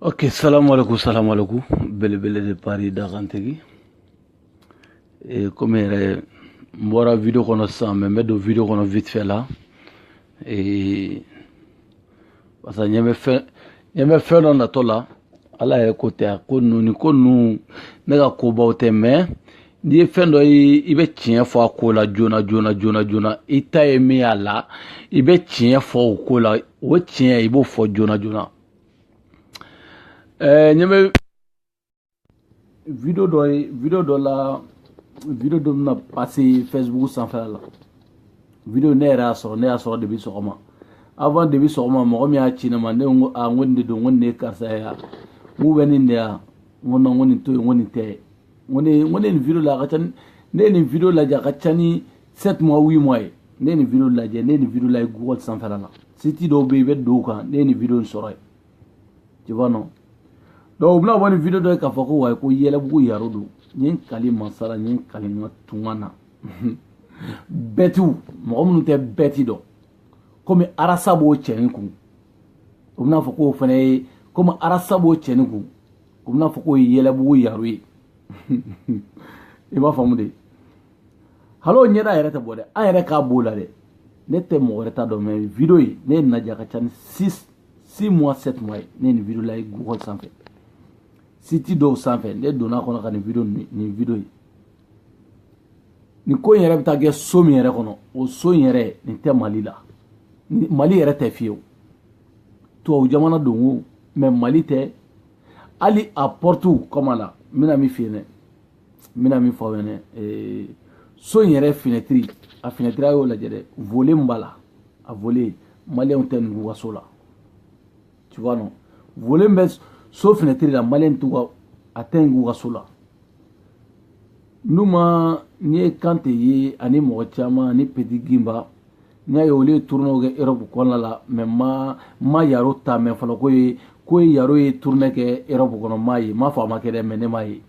ok salamu aleykum salamu aleykum belebele de paris dakantigi e, komi yɛrɛ n bɔra video kɔnɔ sisan mɛ n bɛ don video kɔnɔ vite fait la e, parce que ɲɛ bɛ fɛn ɲɛ bɛ fɛn dɔ natɔ la ala yɛrɛ ko tɛ a ko ninnu ni ko ninnu ne ka kobaw tɛ mɛ n'i ye fɛn dɔ ye i bɛ tiɲɛ fɔ a ko la joona joona joona joona i ta ye min y'a la i bɛ tiɲɛ fɔ o ko la o tiɲɛ i b'o fɔ joona joona ɛɛ ɲɛ bɛ video dɔ ye video dɔ la video dɔ bɛna pase facebook sanfɛla la video ne yɛrɛ y'a sɔrɔ ne y'a sɔrɔ depuis sɔgɔma avant depuis sɔgɔma mɔgɔ min y'a ci ne ma ne ko a n ko nin de don n ko nin de ye karisa ye n k'u bɛ nin de yan n ko non n ko nin to yen n ko nin tɛ ko ne ko ne nin video la a ka ca ni ne ye nin video lajɛ a ka ca ni sept mois huit mois ye ne ye nin video lajɛ ne ye nin video lajɛ google sanfɛla la siti dɔw bɛ yen i bɛ don o kan ne ye nin video in sɔrɔ yen tu vois non donc u bɛna bɔ ni video dɔ ye k'a fɔ ko wayi ko yɛlɛbugu yaro don n ye n kali masa la n ye n kali n ka tunga na bɛtiw mɔgɔ minnu tɛ bɛti dɔn komi arasa b'o cɛnin kun u bɛna fɔ k'o fana ye komi arasa b'o cɛnin kun u bɛna fɔ k'o ye yɛlɛbugu yaro ye i b'a faamu de hal'o ɲɛda yɛrɛ tɛ bɔ dɛ an yɛrɛ k'a b'o la dɛ ne tɛ mɔgɔ wɛrɛ ta dɔn mɛ video ye ne y'a lajɛ a ka ca ni six six mois sept mois ye ne ye nin video lajɛ google sanfɛ siti dɔw sanfɛ ne donna kɔnɔ ka nin video nin video ye nin ko in yɛrɛ bɛ taa kɛ so min yɛrɛ kɔnɔ o so in yɛrɛ nin tɛ mali la mali yɛrɛ tɛ fiyewu tubabu jamana don o mɛ mali tɛ hali a pɔrɔtiw kɔma la n bɛna min f'i ye dɛ n bɛna min fɔ aw ɲɛna so in yɛrɛ finɛtiri a finɛtiri a y'o lajɛ dɛ volet min b'a la a volet maliyɛnw tɛ nin k'u ka so la tu vois non volet min bɛ so finɛtiri la maliyɛn t'u ka a tɛ nin k'u ka so la n'u ma n'i ye kante ye ani mɔgɔ caman ani petit ginba n y'a ye olu ye tournew kɛ europe kɔnɔna la mɛ ma ma yaro ta mɛn fɔlɔ ko ye ko ye yaro ye tourne kɛ europe kɔnɔ m'a ye m'a fɔ a ma kɛ dɛ mɛ ne m'a ye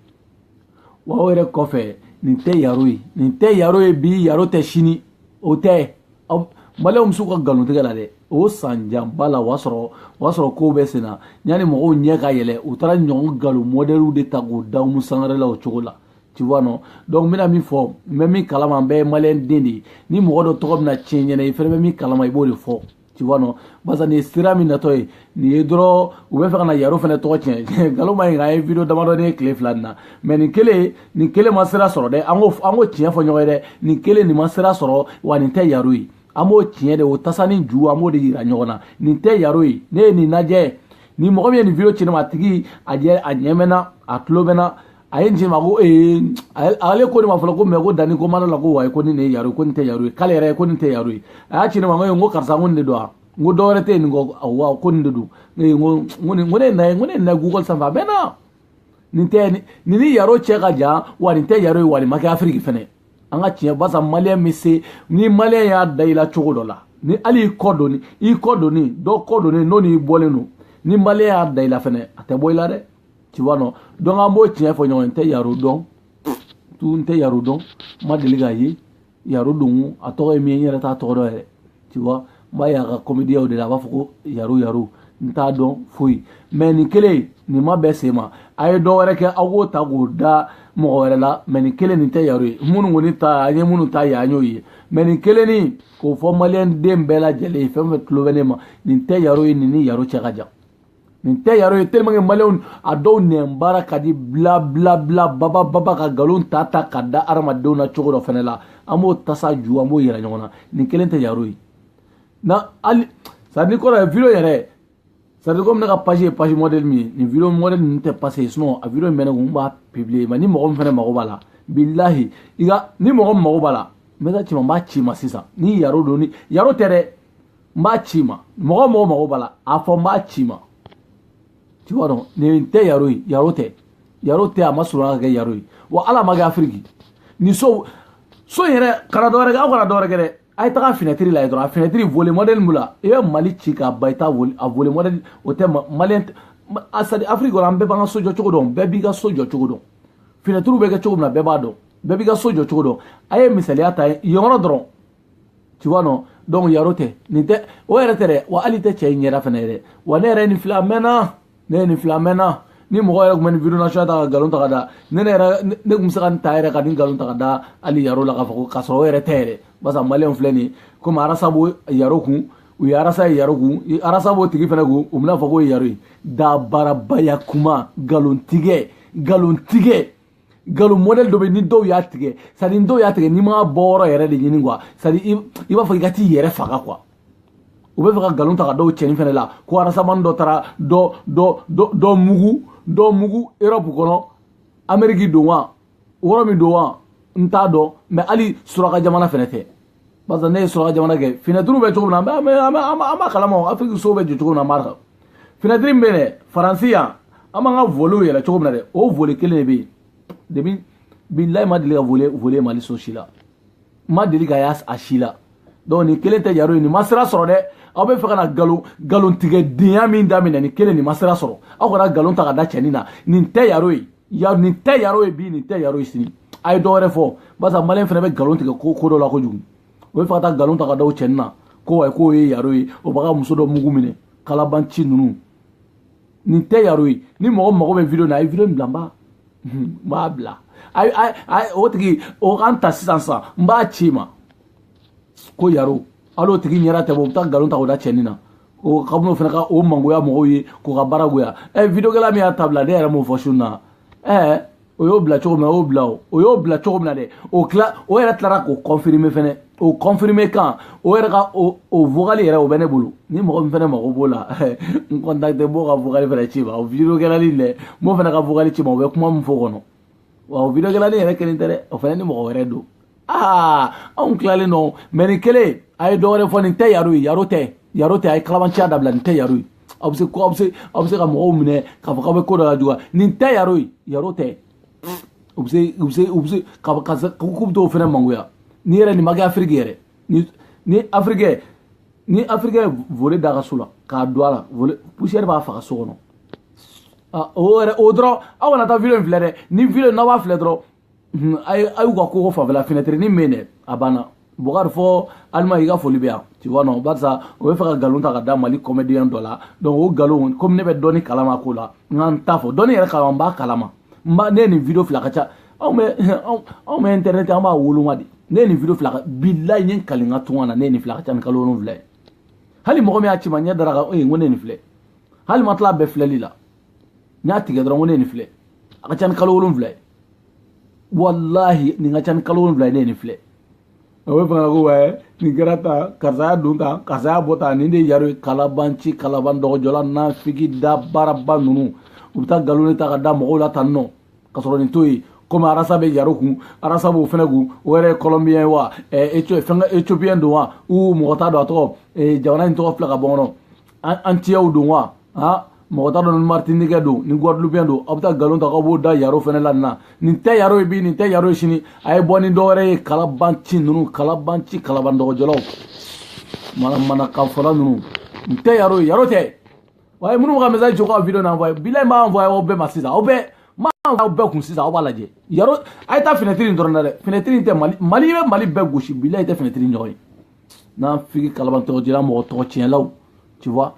wa o yɛrɛ kɔfɛ nin tɛ yaro ye nin tɛ yaro ye bi yaro tɛ sini o tɛ maliyɛnw bɛ se ka nkalon tigɛ la dɛ o san janba la o y'a sɔrɔ o y'a sɔrɔ kow bɛ senna yanni mɔgɔw ɲɛ ka yɛlɛ u taara ɲɔgɔn nkalon mɔdɛliw de ta k'o da umu sangare la o cogo la tu vois non donc n bɛna min fɔ n bɛ min kalama an bɛɛ ye maliyɛn den de ye ni mɔgɔ dɔ tɔgɔ bɛna tiɲɛ i ɲɛ na i fɛnɛ bɛ min kalama i b'o de fɔ tu vois non barisa nin ye sira min natɔ ye nin ye dɔrɔn u b'a fɛ ka na yaro fɛnɛ tɔgɔ tiɲɛ nkalon man ɲi ka an ye video damadɔni ye tile fila nin na mɛ nin kelen nin kelen ma sira sɔrɔ dɛ an k'o an k'o tiɲɛ fɔ ɲɔgɔn ye dɛ nin kelen nin ma sira sɔrɔ wa nin tɛ yaro ye an b'o tiɲɛ de o tasani ju an b'o de yira ɲɔgɔn na nin tɛ yaro ye ne ye nin lajɛ ni mɔgɔ min ye nin video ci ne ma a tigi a ɲɛ bɛ n na a tulo bɛ n na a ye nin ci n ma ko ee ale ko ne ma fɔlɔ ko mɛ ko danni ko mara la ko wayi ko ni nin ye yaro ye ko nin tɛ yaro ye k'ale yɛrɛ ye ko nin tɛ yaro ye a y'a ci ne ma ko n ko karisa ko nin de don wa n ko dɔ wɛrɛ tɛ yen nin kɔ wa ko nin de don ee n ko n ko ne na ye n ko ne na google sanfɛ a mɛnna nin tɛ nin ni yaro cɛ ka jan wa nin tɛ yaro ye wa nin ma kɛ afiriki fɛnɛ an ka tiɲɛ barisa maliyɛn bɛ se ni maliyɛn y'a da i la cogo dɔ la ni hali i kɔ donni i kɔ donni dɔ kɔ donni n'o n'i bɔlen don ni maliyɛn y'a da i la fɛnɛ a tɛ bɔ i la dɛ tu vois non donc an b'o tiɲɛ fɔ ɲɔgɔn n tɛ yaro dɔn tu n tɛ yaro dɔn n ma deli k'a ye yaro don a tɔgɔ ye min ye n yɛrɛ t'a tɔgɔ dɔn yɛrɛ tu vois n b'a ye a ka kɔmidiyaw de la a b'a fɔ ko yaro yaro n t'a dɔn foyi mɛ nin kelen nin ma bɛɛ sen ma a ye dɔ wɛrɛ kɛ aw k'o ta k'o da mɔgɔ wɛrɛ la mɛ nin kelen nin tɛ yaro ye minnu kɔni ta an ye minnu ta ye an y'o ye mɛ nin kelen nin k'o fɔ maliyɛn den bɛɛ lajɛlen ye fɛn fɛn tulo bɛ ne ma nin tɛ yaro ye nin ni yaro cɛ ka jan nin tɛ yaro ye tellement que maliyɛnw a dɔw nɛn baara ka di bla bla bla baba baba ka nkalon ta ta ka da hadamadenw na cogo dɔ fɛnɛ la an b'o tasa ju an b'o yira ɲɔgɔn na nin kelen tɛ yaro ye na hali c'est-à-dire ni kɔrɔ ye video yɛrɛ c'est-à-dire ko ne ka page ye page modèle min ye nin video modèle ninnu tɛ passe yen sinon a video in bɛ ne kun n b'a publier mais ni mɔgɔ min fɛnɛ mago b'a la bilahi i ka ni mɔgɔ min mago b'a la n bɛ taa ci ma n b'a ci ma sisan ni yaro don ni yaro tɛ dɛ n b'a ci ma mɔgɔ mɔgɔ mago b'a la a fɔ n b'a ci ma tu vois donc nin tɛ yaro ye yaro tɛ yaro tɛ a ma surunya ka kɛ yaro ye wa hali a ma kɛ afiriki nin so so in yɛrɛ kana dɔ wɛrɛ kɛ aw kana dɔ wɛrɛ kɛ dɛ a ye taga finɛtiri lajɛ dɔrɔn a finɛtiri volet modèle min la i bɛ mali ci k'a ban i t'a volet a volet modèle o tɛ mali yan c'est-à-dire afiriki kɔnɔ an bɛɛ b'an ka so jɔ cogo dɔn bɛɛ b'i ka so jɔ cogo dɔn finɛtiriw bɛ kɛ cogo min na bɛɛ b'a dɔn bɛɛ b'i ka so jɔ cogo dɔn a ye misaliya ta yen yɔrɔ dɔrɔn tu vois non donc yaro tɛ nin tɛ o yɛrɛ tɛ dɛ wa hali tɛ cɛ in ɲɛda fana yɛrɛ wa ne yɛrɛ nin filɛ a mɛnna ne ye nin filɛ a mɛnna ni mɔgɔ yɛrɛ tun bɛ nin video nasɔn ta ka nkalon ta ka da ne ne yɛrɛ ne tun bɛ se ka nin ta yɛrɛ ka nin nkalon ta ka da hali yaro la k'a fɔ ko k'a sɔrɔ o yɛrɛ tɛ yɛrɛ barisa maliyɛnw filɛ nin ye komi rasta bɛ yaro kun u ye rasta ye yaro kun rasta b'o tigi fana kun u bɛna fɔ k'o ye yaro ye dabarabaya kuma nkalontigɛ nkalontigɛ nkalon modèle dɔ bɛ ni dɔw y'a tigɛ sadi ni dɔw y'a tigɛ n'i ma bɔ yɔrɔ yɛrɛ de ɲini kuwa sadi i b'a fɔ i ka t'i yɛrɛ faga kuwa u bɛ fɛ ka nkalon ta ka da o cɛnin fɛnɛ la ko arasamani dɔ taara dɔ dɔ dɔ dɔ mugu dɔ mugu europe kɔnɔ ameriki don wa yɔrɔ min don wa n t'a dɔn mɛ hali suraka jamana fɛnɛ tɛ barisa ne ye suraka jamana kɛ finɛtiriw bɛ cogo min na an bɛ an bɛ an b'a an b'a kalama o afiriki sow bɛ jɔ cogo min na an b'a kan finɛtiri min bɛ yen dɛ faransi yan an b'an ka volew yɛlɛ cogo min na dɛ o vole kelen de bɛ yen depi bilayi ma deli ka vole vole mali so si la ma deli ka y'a a si la donc nin kelen tɛ yaro ye nin ma sira sɔrɔ dɛ aw bɛ fɛ ka na nkalon nkalon tigɛ denya min daminɛ nin kelen nin ma sira sɔrɔ aw kana nkalon ta ka da cɛnin na nin tɛ yaro ye ya nin tɛ yaro ye bi nin tɛ yaro ye sini a ye dɔ wɛrɛ fɔ barisa maliyɛn fana bɛ nkalon tigɛ ko ko dɔ la kojugu o bɛ fɛ ka taa nkalon ta ka da o cɛnin na ko wayi k'o ye yaro ye o b'a ka muso dɔ mugu minɛ kalabanci ninnu nin tɛ yaro ye ni mɔgɔ mago bɛ video na a ye video in bila n b'a n b'a bila o tigi o k'an ta sisan sisan n b'a ci ma ko yaro hali o tigi ɲɛda tɛ bɔ u bɛ taa nkalon ta k'o da cɛnin na o ka minnu fana ka o mangoya mɔgɔw ye k'u ka baara goya ɛ videokɛla min y'a ta bila ne yɛrɛ m'o fɔ su na ɛ o y'o bila cogo min na o y'o bila o o y'o bila cogo min na dɛ o tila o yɛrɛ tilara k'o confirmer fɛnɛ o confirmer kan o yɛrɛ ka o o vocal yɛrɛ o bɛ ne bolo ni mɔgɔ min fɛnɛ mago b'o la n contacter n b'o ka vocal fɛnɛ ci ma o videokɛla nin dɛ n b'o fɛnɛ ka vocal ci ma o bɛ kuma min fɔ kɔnɔ wa o videokɛla nin yɛrɛ kelen tɛ dɛ o fana ni mɔgɔ wɛrɛ don aa anw tilalen nɔ mɛ nin kelen a ye dɔ wɛrɛ fɔ nin tɛ yaro ye yaro tɛ yaro tɛ a ye kalabanciya dabila nin tɛ yaro ye aw bɛ se aw bɛ se aw bɛ se ka mɔgɔw minɛ k'a fɔ k'aw bɛ ko dɔ lajuguya nin tɛ yaro ye yaro tɛ u bɛ se u bɛ se u bɛ se ka ka k'u bɛ t'o fana mangoya n'i yɛrɛ nin ma kɛ afiriki yɛrɛ ni ni afirikɛ ni afirikɛ vole da ka so la k'a don a la vole poussière b'a faga so kɔnɔ Ah, o yɛrɛ o dɔrɔn aw kana taa video in filɛ dɛ ni video n'aw b'a filɛ dɔrɔn a ye a y'u ka koko fanfɛla fenɛtiri ni min dɛ a banna bokari fo alima i ka foli bɛ yan tu vois non barisa o bɛ fɛ ka nkalon ta ka da mali kɔmɛdiyɛn dɔ la donc o nkalon komi ne bɛ dɔɔni kalama ko la n ka n ta fɔ dɔɔni yɛrɛ kalama n b'a kalama n ba ne ye nin video filɛ ka ca anw bɛ anw bɛ internet an b'a woloma de ne ye nin video filɛ ka bilayi n ye n kali n ka tunga na ne ye nin filɛ ka ca ni kalo wolonwula ye hali mɔgɔ min y'a ci ma ɲɛ dara a kan ee n ko ne ye nin filɛ hali ma tila bɛɛ filɛli la n y'a tigɛ dɔrɔn ko ne ye nin filɛ a ka ca ni kalo wolonwula ye walahi nin ka ca ni kalo wolonwula ye ne ye nin filɛ a bɛ fana ko wɛ nin kɛra tan karisa y'a don tan karisa y'a bɔ tan nin de ye yaro ye kalabanci kalaban dɔgɔjɔla nafiki da baaraba ninnu u bɛ taa nkalon de ta ka da mɔgɔw la tan nɔ ka sɔrɔ nin to yen komi arasa bɛ yaro kun arasa b'o fɛnɛ kun o yɛrɛ ye kɔlɔnbiyɛn ye wa fɛn ka ethiopiyɛn don wa u mɔgɔ t'a dɔn a tɔgɔ jamana in tɔgɔ fila ka bɔ n kɔnɔ antillais don wa ha mɔgɔ t'a dɔn ni martiniquais don ni guadeloupéen don aw bɛ taa nkalon ta k'aw b'o da yaro fɛnɛ la nin na nin tɛ yaro ye bi nin tɛ yaro ye sini a ye bɔ ni dɔ wɛrɛ ye kalabanci ninnu kalabanci kalaban dɔgɔjɔlaw manamanakafɔla ninnu nin tɛ yaro ye yaro tɛ wa ye minnu bɛ ka message jɔ k'aw video na envoyer bilayi n b'a envoyer aw bɛɛ ma sisan aw bɛɛ n b'a aw bɛɛ kun sisan aw b'a lajɛ yaro a ye taa fenêtre in dɔrɔn na dɛ fenêtre in tɛ mali mali bɛ mali bɛɛ gosi bilayi tɛ fenêtre in ɲɔgɔn ye nafigi kalaban dɔgɔjɔla mɔgɔ tɔgɔ tiɲɛlaw tu vois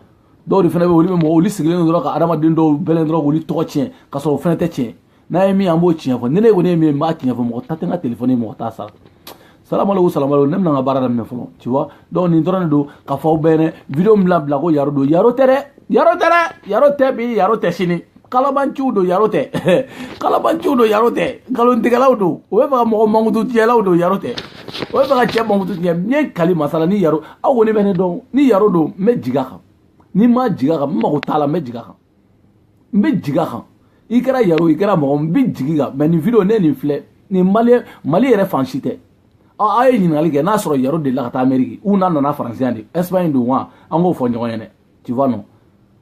dɔw de fɛnɛ bɛ olu bɛ mɔgɔ olu sigilen dɔrɔn ka adamaden dɔw bɛlɛn dɔrɔn k'olu tɔgɔ tiɲɛ ka sɔrɔ o fɛnɛ tɛ tiɲɛ n'a ye min an b'o tiɲɛ fɔ ni ne kɔni ye min ye n b'a tiɲɛ fɔ mɔgɔ ta tɛ n ka telefɔni ye mɔgɔ t'a sara salamaleku salamaleku ne bɛna n ka baara daminɛ fɔlɔ tu vois donc nin dɔrɔn de don k'a fɔ aw bɛɛ ɲɛna video min bila bila ko yaro don yaro tɛ dɛ yaro tɛ dɛ yaro tɛ bi yaro tɛ sini kalabanciw don yaro tɛ kalabanciw don yaro tɛ nkalontigɛlaw don o bɛ fɛ ka mɔgɔ mankutu tiɲɛlaw don yaro tɛ o bɛ fɛ ka cɛ mankutu tiɲɛ n ye kali masa la ni yaro aw kɔni bɛ ne dɔn ni yaro don n bɛ jigin a kan ni n ma jigin a kan n mago t'a la n bɛ jigin a kan n bɛ jigin a kan i kɛra yaro i kɛra mɔgɔ n bɛ jigin i kan mais nin video ne nin filɛ nin mali mali yɛrɛ fan si tɛ aw ye ɲininkali kɛ n'a sɔrɔ yaro delila ka taa ameriki ou n'a nana faransi yan de espagne don wa an k'o fɔ ɲɔgɔn ye dɛ tu vois non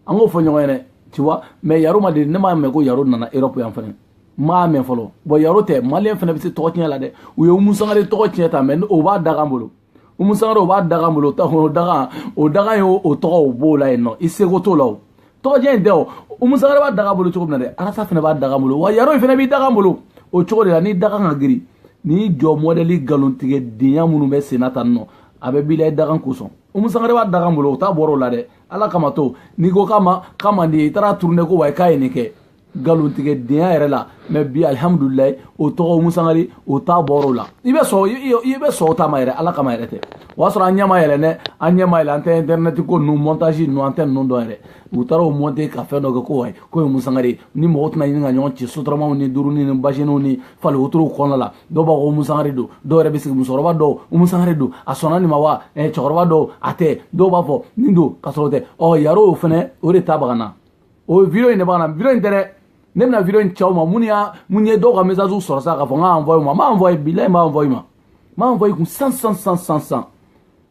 an k'o fɔ ɲɔgɔn ye dɛ tu vois mais yaro ma deli ne m'a mɛn ko yaro nana europe yan fɛnɛ n m'a mɛn fɔlɔ bon yaro tɛ maliyɛn fɛnɛ bɛ se tɔgɔ tiɲɛ la dɛ u ye umu sangare tɔgɔ tiɲɛ tan mais o b'a dagan bolo umu sangare o b'a dagan bolo o dagan o dagan ye o tɔgɔ o b'o la yen nɔ i seko t'o la o tɔgɔ tiɲɛ in tɛ o umu sangare b'a dagan bolo cogo min na dɛ arasa fɛnɛ b'a dagan bolo wa yaro in fɛnɛ b'i dagan bolo o cogo de la n'i dagan ka girin nin ɲɔgɔn mɔdɛli nkalontigɛdenya minnu bɛ senna tan nɔ a bɛɛ b'i la i dagan kosɔn umu sangare b'a dagan bolo o ta bɔra o la dɛ ala kama to n'i ko k'a ma k'a man di i taara tourner ko wayi k'a ye nin kɛ nkalontigɛdenya yɛrɛ la mais bi alihamudulilayi o tɔgɔ umu sangare o ta bɔra o la i bɛ sɔn i bɛ sɔn o ta ma yɛrɛ ala kama yɛrɛ tɛ o y'a sɔrɔ an ɲɛ ma yɛlɛ dɛ an ɲɛ ma yɛlɛ an tɛ intɛrɛnɛti ko ninnu mɔntazi ninnu an tɛ ninnu dɔn yɛrɛ u taara o mɔnte ka fɛn dɔ kɛ ko wayi k'o ye umu sangare ni mɔgɔ tɛna ɲini ka ɲɔgɔn ci sotaramaw ni duurunin ni basiniw ni fali wotorow kɔnɔna la dɔw b'a fɔ ko umu sangare don dɔw yɛrɛ bɛ sigi musokɔrɔba dɔw umu sangare don a sɔnna nin ma wa eh, cɛkɔrɔba dɔw a tɛ dɔw b'a fɔ nin don ka sɔrɔ o tɛ ɔ yaro o fɛnɛ o de ta baga na o video in de b'a na video in tɛ dɛ ne bɛna video in ci aw ma mun y'a mun ye dɔw ka message sɔrɔ sa k'a fɔ n k'a envoyer u ma n b'a envoyer bilayi n b'a envoyer i ma n b'a envoyer i kun san san san san san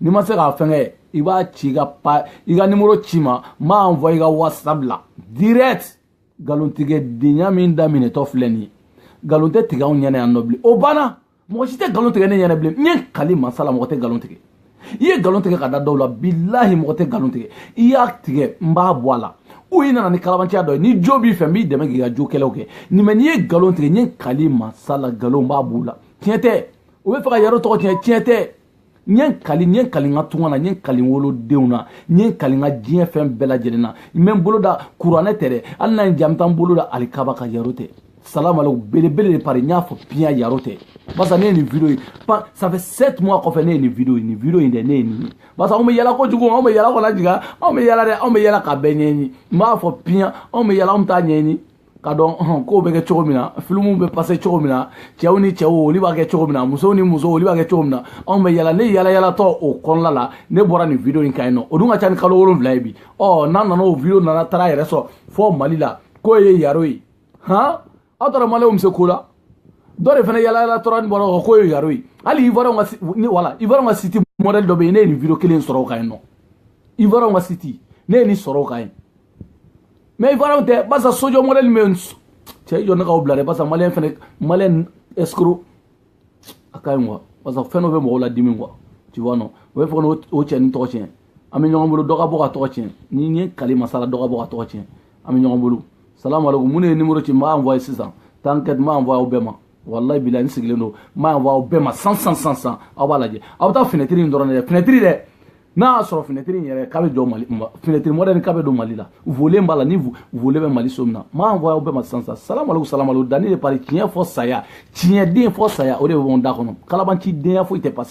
n'i ma se k'a fɛnkɛ i b'a ci i ka pa i ka nimoro ci n ma n b'a envoyer i ka whatsapp la direct nkalontigɛdenya min daminɛtɔ filɛ nin ye nkalon tɛ tigɛ anw ɲɛna yan nɔ bilen o banna mɔgɔ si tɛ nkalon tigɛ ne ɲɛna bilen n ye kali masa la mɔgɔ tɛ nkalon tigɛ i ye nkalon tigɛ ka da dɔw la bilahi mɔgɔ tɛ nkalon tigɛ i y'a tigɛ n b'a bɔ a la ou i nana ni kalabanciya dɔ ye ni jo b'i fɛ n b'i dɛmɛ k'i ka jo kɛlɛw kɛ nin mais n'i ye nkalon tigɛ n ye kali masa la nkalonba b'u la tiɲɛ tɛ u bɛ fɛ ka yaro tɔgɔ tiɲɛ tiɲɛ tɛ n ye kali n ye kali n ka tunga na n ye kali wolodenw na n ye kali n ka diɲɛ fɛn bɛɛ lajɛlen na n bɛ n bolo da kuranɛ tɛ dɛ hali n'a ye ja n bɛ taa n bolo da alikaba kan yaro tɛ salamu aleykum belebele de paris n y'a fɔ piyan yaro tɛ barisa ne ye nin video ye ça fait sept mois kɔfɛ ne ye nin video ye nin video in dɛ ne ye nin ye barisa anw bɛ yala kojugu anw bɛ yala kojugu anw bɛ yala dɛ anw bɛ yala ka bɛɛ ɲɛɲini n b'a fɔ piyan anw bɛ yala anw t'a ɲɛɲini ka dɔn kow bɛ kɛ cogo min na filimuw bɛ passé cogo min na cɛw ni cɛw olu b'a kɛ cogo min na musow ni musow olu b'a kɛ cogo min na anw bɛ yala ne yalayalatɔ o kɔnɔna la ne bɔra nin video in kan yen nɔ o dun ka ca ni kalo wolonwula ye bi ɔ n'a nana o video nana taara yɛrɛ sɔrɔ fɔ mali la k'o ye yaro ye han aw taara maliyɛnw bɛ se ko la dɔ de fana yalayalatɔ ni bɔra kɔ k'o ye yaro ye hali ivoirienw ka ni wala ivoirienw ka site modèle dɔ bɛ yen ne ye nin video kelen sɔrɔ o kan yen nɔ ivoirienw ka site ne ye nin sɔrɔ o kan yen mais ivoirien tɛ barisa sojɔ modèle min bɛ yen cɛ i jɔ ne k'aw bila dɛ barisa maliyɛn fɛnɛ maliyɛn escroc a ka ɲi quoi barisa fɛn dɔ bɛ mɔgɔw ladimi quoi tu vois non o bɛ fɔ ko o cɛ ni tɔgɔ tiɲɛ an bɛ ɲɔgɔn bolo dɔ ka bɔ ka tɔgɔ tiɲɛ ni n ye kali masa la dɔ ka bɔ ka tɔgɔ tiɲɛ an bɛ ɲɔgɔn bolo salamu aleykum mun de ye numéro ci n b'a envoyé sisan t'inquiète n b'a envoyé aw bɛɛ ma walayi bilayi n sigilen don n b'a envoyé aw bɛɛ ma san san san san aw b'a lajɛ aw bɛ taa finɛtiri in dɔrɔn de dɛ finɛtiri dɛ n'a y'a sɔrɔ finɛtiri in yɛrɛ k'a bɛ jɔ mali finɛtiri modèle k'a bɛ don mali la volet b'a la ni volet bɛ mali so min na n b'a envoyé aw bɛɛ ma san san salamaleku salamaleku dani de paris tiɲɛ fɔ saya tiɲɛden fɔ saya o de bɛ bɔ n da kɔnɔ kalabancidenya foyi tɛ passé